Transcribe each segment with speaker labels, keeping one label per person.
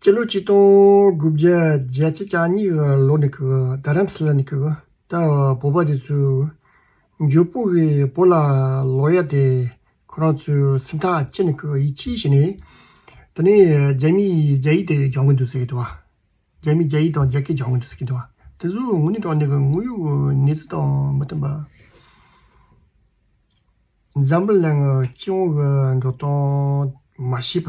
Speaker 1: སྤྱི་ལོ་གཅིག་སྟོང་དགུ་བརྒྱ་བརྒྱད་ཚེས་བཅུ་གཉིས་གི་ལོ་ནས་རྡ་རམ་ས་ལ་ནས་ད་བར་བོད་པ་དེ་ཚོས་འཇོལ་སྤུག་གི་བུ་ལ་ལོག་ཡ་དེ་ཁོ་རང་ཚོའི་སེམས་ཐག་ཅི་ནས་གིས་ཡིད་ཆེས་བྱས་ནས་དེ་ནས་རྒྱ་མིས་རྒྱ་ཡིག་དེ་སྦྱང་གི་འདུག་ཟེར་གི་འདུག་རྒྱ་མིས་རྒྱ་ཡིག་དང་རྒྱ་སྐད་སྦྱང་གི་འདུག་ཟེར་གི་འདུག་དེ་ཚོའི་ངོ་ནས་དྲངས་ནས་གི་དངོས་ཡོད་གནས་ཚུལ་དང་མི་མཐུན་པ། འཛམ་བུ་གླིང་སྤྱི་དབང་གི་འགྲོ་སྟངས་མ་ཤེས་པ།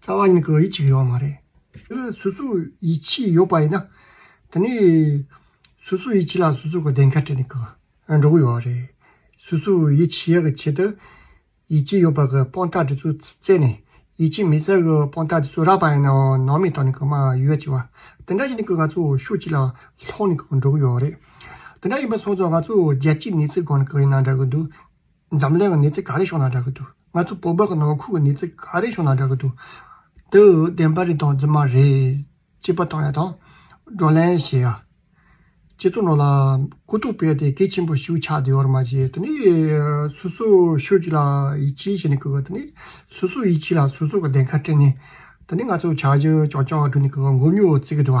Speaker 1: རྩ་བ་ཡིན་གྱི་ཡིད་ཆེས་ཡོད་མ་རེད། སོ་སོ་ཡིད་ཆེས་ཡོད་པ་ཡིན་ན། དེ་ནས་སོ་སོ་ཡིད་ཆེས་ལ་སོ་སོ་གི་བདེན་ཁ་དྲན་གྱི་འགྲོ་གི་ཡོད་རེད། སོ་སོ་ཡིད་ཆེས་ཡག་གི་ཆེད་དུ། ཡིད་ཆེས་ཡོད་པ་གི་དཔང་རྟགས་དེ་ཚོ་བཙལ་ནས་ཡིད་ཆེས་མེད་ས་གི་དཔང་རྟགས་དེ་ཚོ་རག་པ་ཡིན་ནའང་ནང་མི་དང་ནི་མ་ཡུལ་བ་བྱེ་བ་དེ་འདྲ་ཞིག་ནི་ང་ཚོ་ཕྱོགས་གཅིག་ལ་ལྷོང་ནི་འགྲོ་གི་ཡོད་རེད། དེ་འདྲ་ཡིན་པ་སོང་ཙང་ང་ཚོ་རྒྱལ་སྤྱིའི་གནས་ཚུལ་སྒང་ནི་ཡིན་ན་འདྲ་གི་འདུག། འཛམ་གླིང་གི་གནས་ཚད་ག་རེ་བྱུང་ན་འདྲ་གི་འདུག་ང་ཚོ་བོད་པ་གི་ནང་ཁུལ་གྱི་གནས་ཚད་ག་རེ་བྱུང་ན་འདྲ་གི་འདུག་དེ་འུ་བདེན་པ་རེད་དང་རྫུན་མ་རེད་ཅེས་པ་དང་ཡང་དང་བགྲོ་གླེང་བྱེད་ཡ། ཁྱེད་ཚོ་ནང་ལ་གུ་དུག་སྤེལ་ཏེ་གལ་ཆེན་པོ་ཞིག་ཆགས་བསྡད་ཡོད་རེད་མ་གཞི་དེ་ནི་སོ་སོ་ཤོད་ཀྱི་ལ་ཡིད་ཆེས་བྱེད་ནི་གི་གི་དེ་ནི་སོ་སོ་ཡིད་ཆེས་ལ་སོ་སོ་གི་བདེན་ཁ་སྤྲད་ནི་དེ་ནི་ང་ཚོ་བྱ་གཞི་རྐྱང་རྐྱང་བསྒྲུབ་ནི་གི་གི་མགོ་སྨྱུག་བརྩེགས་གི་འདུག་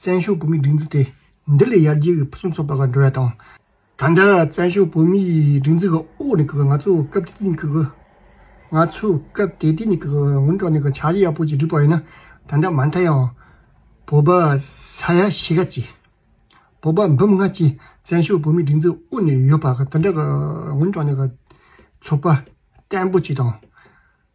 Speaker 1: བཙན་བྱོལ་བོད་མིའི་སྒྲིག་འཛུགས་དེ་འདི་ལས་ཡར་རྒྱས་ཀྱི་ཕུན་སུམ་ཚོགས་པ་འགྲོ་བ་དང། ད་ལྟ་བཙན་བྱོལ་བོད་མིའི་སྒྲིག་འཛུགས་ཀྱི་འོག་ནས་ང་ཚོས་སྐབས་དེ་དུས་ནས་ཀྱི་ང་ཚོས་སྐབས་དེ་དུས་ནས་ཀྱི་སྔོན་འགྲོ་ནས་ཀྱི་བྱ་གཞག་ཡག་པོ་ཞིག་བསྒྲུབས་པ་ཡིན་ན་ད་ལྟ་མ་མཐའ་ཡང་བོད་པ་ས་ཡ་ཕྱེད་ཀ་གཅིག་བོད་པ་འབུམ་ལྔ་གཅིག་བཙན་བྱོལ་བོད་མིའི་སྒྲིག་འཛུགས་ཀྱི་འོག་ནས་ཡོད་པ་དེ་འདྲ་ཀྱི་སྔོན་འགྲོ་ནས་ཀྱི་ཚོགས་པ་བརྟན་པོ་ཞིག་དང།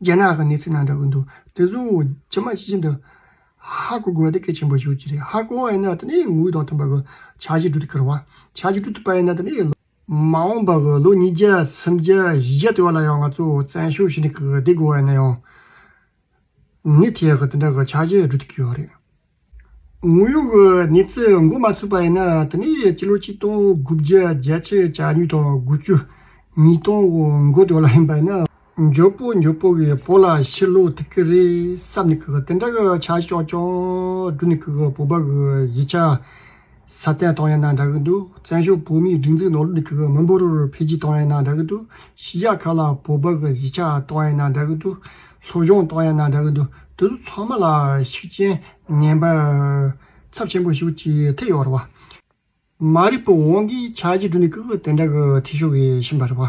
Speaker 1: རྒྱ་ནག་གི་གནས་ཚུལ་ནང་འདྲ་གི་འདུག་དེ་བཟུང་ཇི་མ་ཇི་བཞིན་དུ། ཧ་གོ་དགོས་ན་གལ་ཆེན་པོ་ཞིག་ཡོད་ཀྱི་རེད་ཧ་གོ་བས་ན་དེ་ནས་ངུ་དང་མཐུན་པ་གི་བྱ་བཞི་སྒྲུབ་ཏུ་འཁྱོལ་བ། བྱ་བཞི་སྒྲུབ་ཐུབ་པ་ཡིན་ན་དེ་ནས། མ་འོངས་པ་གི་ལོ་ཉིས་བརྒྱ་སུམ་བརྒྱ་བཞི་བརྒྱ་དེ་བ་ལ་ཡང་ང་ཚོས་བཙན་ཤུགས་ཤིག་འདི་གོ་བས་ན་ཡང། ནི་དེ་གི་དེ་འདྲ་གི་བྱ་བཞི་སྒྲུབ་ཏུ་འཁྱོལ་བ་རེད། ངོ་ཡོད་ཀྱི་གནས་ཚུལ་འགོད་མ་ཐུབ་པ་ཡིན་ན་དེ་ནས་སྤྱི་ལོ་ཆིག་སྟོང་དགུ་བརྒྱ་བརྒྱད་ཅུ་གྱ་གཉིས་དང་དགུ་བཅུ་གཉིས་སྟོང་འགོ་དོན་ལ་ཡིན་པ་ཡིན། མགྱོགས་པོ་མགྱོགས་པོ་གིས་བོད་ལ་ཕྱིར་ལོག་ཐུབ་ཀྱི་རེད་བསམ་ནས་གིས་དེ་འདྲ་གི་བྱ་གཞག་ཀྱང་བསྒྲུབས་ནས་གིས་བོད་པ་གི་གཞིས་ཆགས་སྲ་བརྟན་བཏང་ཡང་ན་འདྲ་གི་འདུག་བཙན་བྱོལ་བོད་མིའི་སྒྲིག་འཛུགས་ནང་ལུགས་ནས་གིས་མི་འབོར་འཕེལ་རྒྱས་བཏང་ཡང་ན་འདྲ་གི་འདུག་གཞིས་ཆགས་ཁག་ལ་བོད་པ་གི་གཞིས་ཆགས་བཏང་ཡང་ན་འདྲ་གི་འདུག་ལྷོ་གཞུང་གཏོགས་ཡང་ན་འདྲ་གི་འདུག་དེ་ཚོ་ཚང་མ་ལ་ཤུགས་རྐྱེན་ངན་པ་ཚབས་ཆེན་པོ་ཞུགས་ཀྱི་ཐེ་ཡོག་རེད་བ། མ་རིག་པའི་དབང་གིས་ཆགས་ཀྱི་འདུག་ནི་ཀུ་ཀུ་དེ་འདྲ་གི་ཐེ་ཞུགས་ཀྱི་ཕྱིན་པ་རེད་བ།